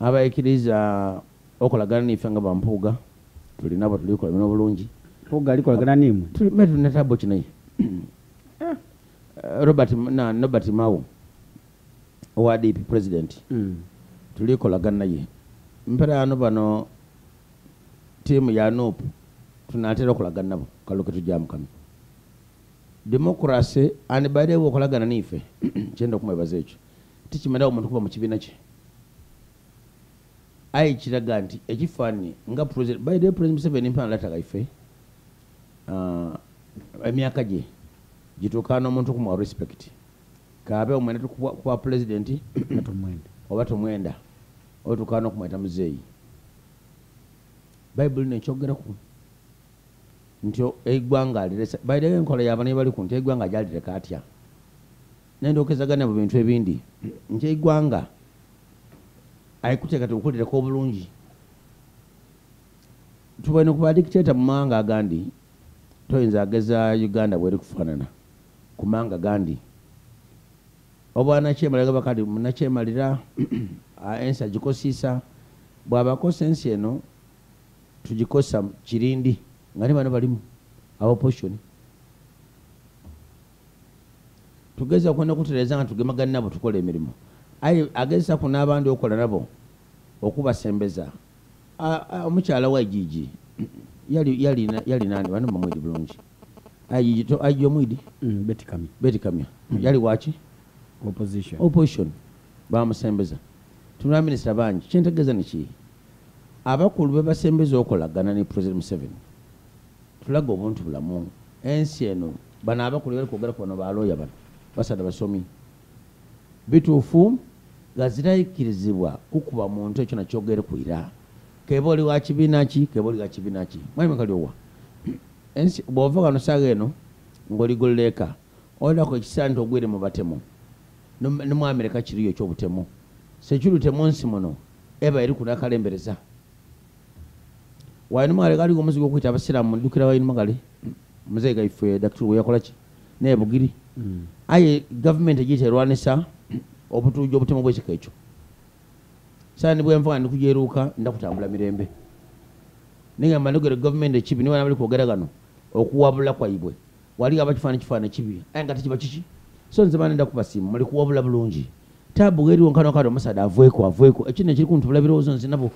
abaikiriza okolagana nife nga bampuuga tulina bwetulikola bino obulungi mpuuga alikolagana nimwe tulime tulina tabo kinaye eh, robert na nobert mawo owa dp president mm. tulikolagana naye mperaano bano tiimu ya nup tunatera okolagana nabo kaluke tujja mukano democracy and by the way okolagana nife kyenda okumwebaza ekyo tekimalawo muntu kuba mu kibiina kye aye kiraga nti ekifaananyi nga president by the way president museveni mpana lataga ife uh, emyaka gye gituuka n'omuntu kumuwa respect kaabe omwenda tukuwa pulezidenti oba tumwenda oba tukaana okumweta muzeeyi bayibuli no ekyogeraku nti eggwanga aliresa bayirewo enkola yabana ebali ku nti eggwanga gyalireka atya nendokezagana mu bintu ebindi nti egwanga ayikuteekate okukolerako obulungi tubone kuba dictator mu mawanga agandi toyinza ageza uganda bweri kufaanana ku mawanga gandi obwanakyemalira bakati munakyemalira ensi agikosiisa bwabakosa ensi eno tugikosa kirindi nga ne bano balimu abaposition tugeza kwenda kutereza nga tugemagana nabo tukola emirimu aye agezesa ku n'abandi okola nabo okubasembeza omukyala wa jiji yalinani bana bamwidi bulungi ajiji ajiji omwidi mm, betikamya mm. yali waki opposition bamusembeza tunula minisita bangi kyentegeza niki abakulu bebasembeza okolagana ne president museveni Tulaga obuntu bulamu ensi eno bano abakulu bali kwogera kubano ba looya bano basada basomi bituufu nga zirayikirizibwa kukuba muntu ekyo nakyogere ku ira keba oli wa kibiina ki keba oli wa kibiina ki mwami kalyowa ensi bwova wano saaga eno ng'oligolleeka olako ekiseera nti ogwire mu batemu ne mu amerika kiriyo ekyobutemu security mu nsi muno eba eri kunakalembereza wainuma kale kaliwo omuzigo okuyita abasiraamu ddukira wainuma kale muzeeyi gaife dakitulu weyakola ki naye bugiri mm. aye gavumenti egiyita erwanisa obutuuja obutemu bwekika ekyo saa ni bwenva nga ndikujeruuka ndakutambula mirembe nigamba nogere gavumenti ekibi niwana bali kwogera gano okuwabula kwaibwe wali aba kifaana kifaana kibi aye nga tekiba kiki so nze bana ndakubasiima muli kuwabula bulungi tabu weri wonkano kati omusada avweko avweko ekino ekiri kuntu bula birowoozo nzinabo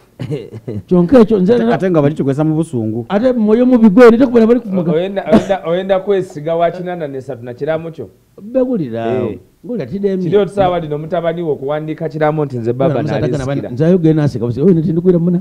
kyonka ekyo nzeate nga bali kikwesa mu busungu ate mwoyo mubi gweri tekubera bali kumuga oyenda kwesiga wakinana nesatu na kiramu kyo begulirawo eh. kiri otusaawa lino mutabani wo okuwandiika kiramu nti nze baba nalisikira nzayogere nasika oyo nti ndikubira muna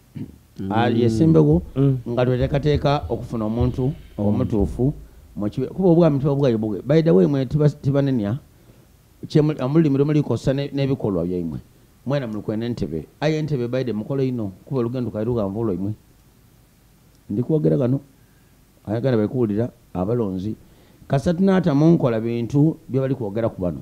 yesimbewo mm. nga twetekateeka okufuna omuntu mm. omutuufu kuba obwami tuba bwayo bwe by the way mwe tibanenya omulimi lumu likosa n'ebikolwa byaimwe mwena mulikwena entebe aye entebe baide mukole ino kuba olugendo kairuganvu lwaimwe ndikwogera kano ayagala baikuwulira abalonzi kasatu naata munkola bintu byebali kwogera ku bano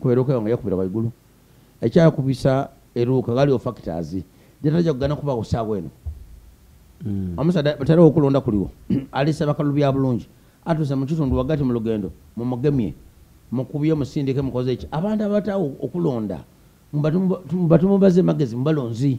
kwerokewa nga yakubira waigulu ekyakubisa eruuka galiwo factors jataja kugana kuba kusaawa eno mm. omusaja batera okulonda kuliwo alisa bakalu bya bulungi atuse mu kitundu wagati mu lugendo mumugemye mukubye musindike mukoze eki abantu abatawo okulonda mbatumubaze magezi mubalonzi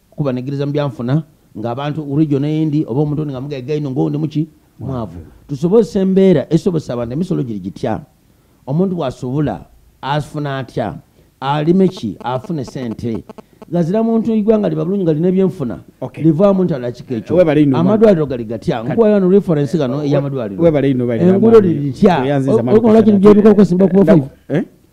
kuba negiriza mu byanfuna ng'abantu urijjo neyindi oba omuntu nga mugaiga ino ngoundi muki mwavu tusobozesa embeera esobozesa abantu emisolo giri gitya omuntu wasubula afuna atya alime ki afune sente gazira muntu igwanga liba bulungi nga lina ebyenfuna livaamu nti alakika ekyo amadwaliro gali gatya nkuwayo no referensi gano eyamadwaliro engulo liri litya olwaki nigyebikolkosimba kuba eh?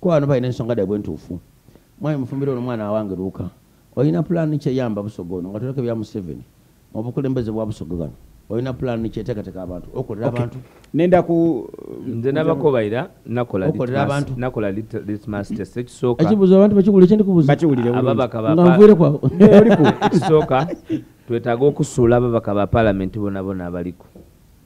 Ko ano balina ensonga daibwe ntuufu. Mwami mufumbira ono mwana awange luuka. Olina pulaani ki eyamba Busoga ono nga toleka bya Museveni mu bukulembeze bwa Busoga gano? Olina pulaani ki eteekateeka abantu okolera abantu? Nenda ku nze nabakobaira nakola okolera abantu nakola litmus test ekisooka ekibuzo abantu bakiwulire kyendi kubuza bakiwulire ababaka ba ngamvuyire kwa oli ku ekisooka twetaaga okusuula ababaka ba palamenti bonabona abaliko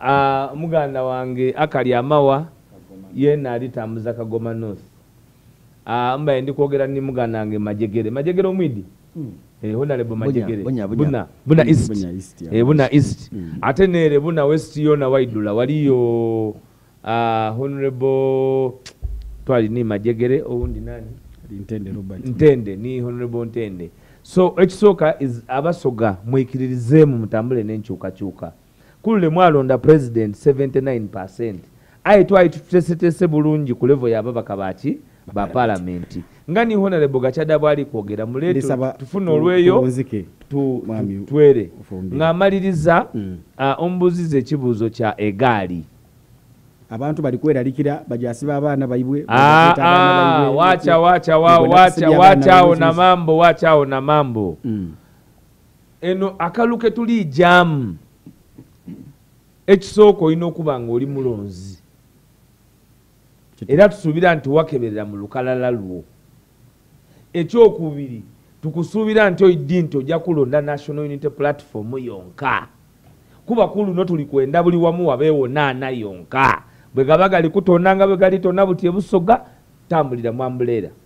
Ah, muganda wange akali amawa yena ali tambuza kagoma north ah, mbaye ndi kwogera ni muganda wange majegere majegere omwidi hmm. eh, honalebo majegere buna buna east eh, buna east hmm. ate nere buna west yona waidula waliyo ah, honorable twali ni majegere owundi nani ntende ni honorable ntende so ekisooka abasoga mwikiririzeemu mutambule n'enkyukakyuka kulule mwalonda president 79 aye twali tutesetese bulungi ku levo yababaka baki ba palamenti nga ni honorable gachada bwali kwogera muleto tufuna olweyo twere ng'amaliriza mm. omubuziza ekibuuzo kya egaali abantu bali kweralikira bajasiba abaana baibwe ah, ah, wacha wacha wacha wacha ona mambo wacha ona mambo mm. eno akalu ketuli jamu ekisooka olina okuba nga oli mulonzi era tusuubira nti wakeberera mu lukalala lwo ekyokubiri tukusuubira nti oiddi nti ojja kulonda national unity platform yonka kuba ku luno tuli kwenda buli wamu wabeewo naana yonka bwe gaba galikutonda nga bwe galitona buti ebusoga tambulira mwambuleera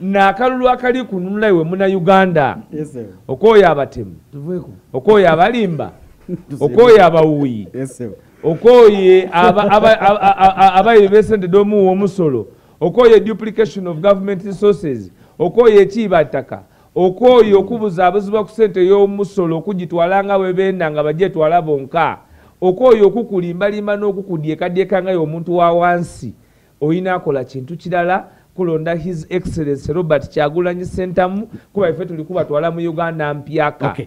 nakalulu akali kununula iwe muna uganda okoyo abatemu okoyo abalimba okoyo abawuyi okoye abayi besente domuwa omusolo okoye duplication of government resources okoye ekiibattaka okoye okubuza abuzibwa ku sente y'omusolo okugitwala nga bwebenda nga bajetwala bonka okoye okukulimbalimba n'okukudyekadyeka ngayo omuntu wa wansi oyina akola kintu kirala kulonda his excellence robert kyagulanyi sentamu kuba ife tuli kubatwala mu uganda mpyaka okay.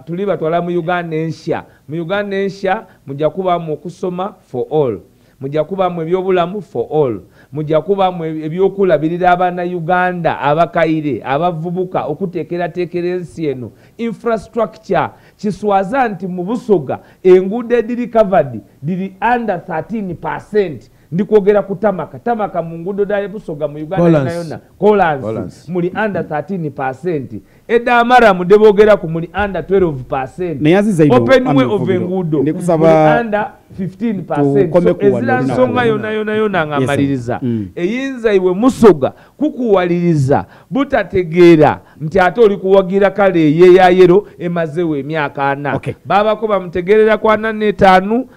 tuli batwala mu uganda ensya mu uganda ensya muja kubamu okusoma for all muja kubamu ebyobulamu for all muja kubamu e-, ebyokulabirira abana uganda abakaire abavubuka okutekeratekera ensi eno infrastructure kiswaza nti mubusoga enguudo ediri covered diri under 13 percent ndi kwogera ku tamaka tamaka mu nguudo da ebusoga mu uganda yona yona kolansi muli under 13 percent edda amara mude boogera ku muli under 12 percent openwe of enguudo muli under 15 percent so ezira nsonga yona yona yona nga amaliriza mm. eyinza iwe musoga kukuwaliriza butategeera nti ate oli kuwagira kale eyeyayero emazewo emyaka ana babako bamutegerera kwana netaanu okay.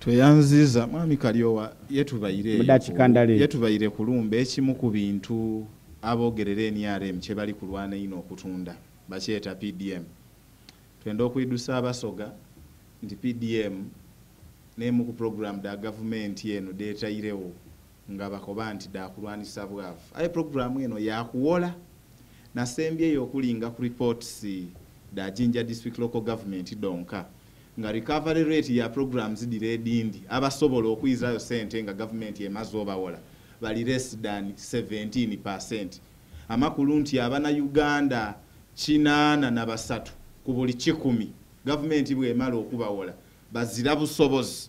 tweyanziza mwami kalyowa yetubayire kulumba ekimu ku bintu abogerera nrm kyebali kulwana ino okutunda bakyeta pdm twenda okwidusa abasoga nti pdm nemu ku program da gavumenti eno detayirewo nga bakoba nti dakulwanisa bwavu aye program eno yakuwola nasembyeyo okulinga ku reports da jinja district local government donka nga recovery rate ya program zidira edindi abasobola okuyizirayo sente nga gavumenti emaze obawola bali less than 17 percent amakulu nti abana uganda kinaana na basatu ku buli kikumi gavumenti bwemala okubawola bazira busobozi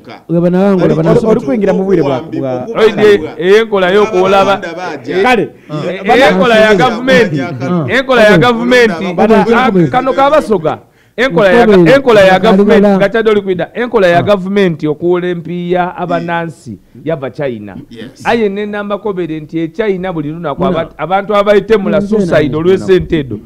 olikwingira mu bwire bwaenkola yokuolaba kale enkola ya gavumenti enkola ya gavumenti kano kabasoga enkola ya gavumenti nga kyadde olikwida enkola ya ah. gavumenti okuwola empiiya abanansi yava china aye nenambakobere nti echina buli lunaku abantu abayitemula suicide olwesente edo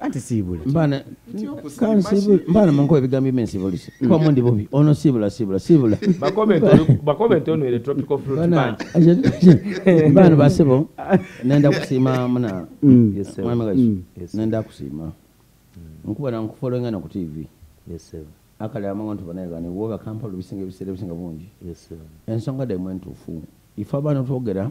anti siibule mbana mbana manko ebigambo bye nsibulise mm. kwa mundi bobi ono siibula siibula siibula bakomenti ono ere tropical fruit bank mbana basebo nenda kusiima muna mm. mwami gashi mm. nenda kusiima nkuba na nkufollowinga na ku tv yes sir akali amango nti banaye gani woga kampala obisinga ebiseera ebisinga bungi ensonga daimwe ntuufu ife abaana twogera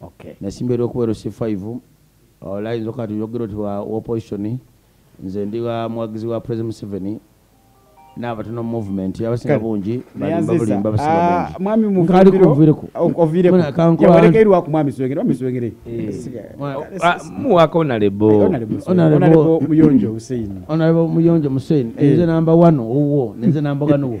okay nasimba eri okubeera si 5 olayinza okuba nti yogera oti wa opposition nze ndi wa muwagizi wa president museveni n'abatono movement abasinga bungi balimba bulimba abasinga ah, bungi mwami muvumbiro ovireko yawereka eri waku mwami swengere mwami swengere eh. ah, muwaka onalebo onalebo muyonjo hussein onalebo muyonjo hussein eh. nze namba wano owuwo nze namba wano wo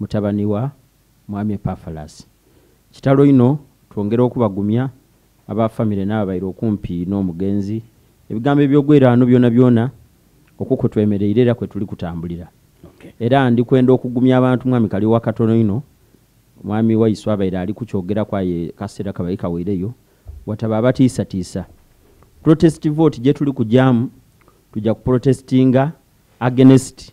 mutabani wa mwami epafalasi kitalo ino twongera okubagumya aba famire naabo baire okumpi n'omugenzi ebigambo ebyogweraano byona byona okwo kwetwemereire era kwetuli kutambulira era ndi kwenda okugumya abantu mwami kali wakatono ino mwami waisu abaire ali kukyogera kwaye kasera kabaire kaweireyo wataba abatiisatiisa protest vote gyetuli kujamu tujja kuprotestinga agenest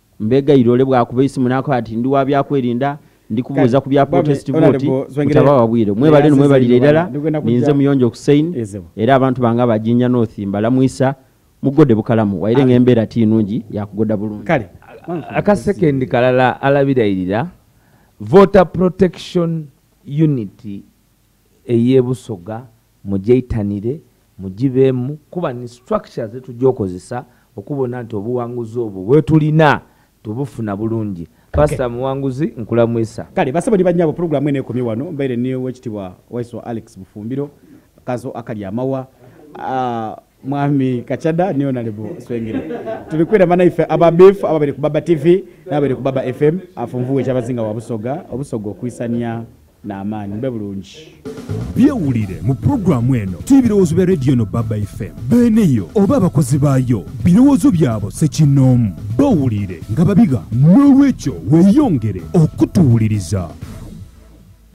mbegayira ole bwakuba esimu nakoba ati ndi wa byakwerinda ndi kubuuza ku bya protest vote mutaba wabwire mwebale no mwebalire ddala ninze muyonjo kusain era abantu bange abajinja north mbalamwisa mugode bukalamu waire ng'embeera ti nungi yakugoda bulungi kale akasekendi kalala alabirayirira voter protection unity ey'e Busoga mugyeitanire, mugibeemu kuba ni structure ze tujja okozesa okubona nti obuwanguzi obwo bwetulina tubufuna bulungi. Pastor okay. Muwanguzi nkulamwisa. Kale basebo ni banyabo program ene ekomye wano mbaire ni wekitibwa Waiso Alex Bufumbiro kazo akali amawa uh, mwami kacada niyo nalibu swengire tuli kwira mana ife aba beef aba bali kubaba tv na bali kubaba fm afunvuwe kyabazinga wa busoga obusoga okwisanya na amani mbe bulungi byewulire mu pulogulaamu eno ti ebirowoozo bya rediyo no baba fm beeneyo oba abakozi baayo birowoozo byabo sekinnoomu bawulire nga babiga n'olwekyo weeyongere okutuwuliriza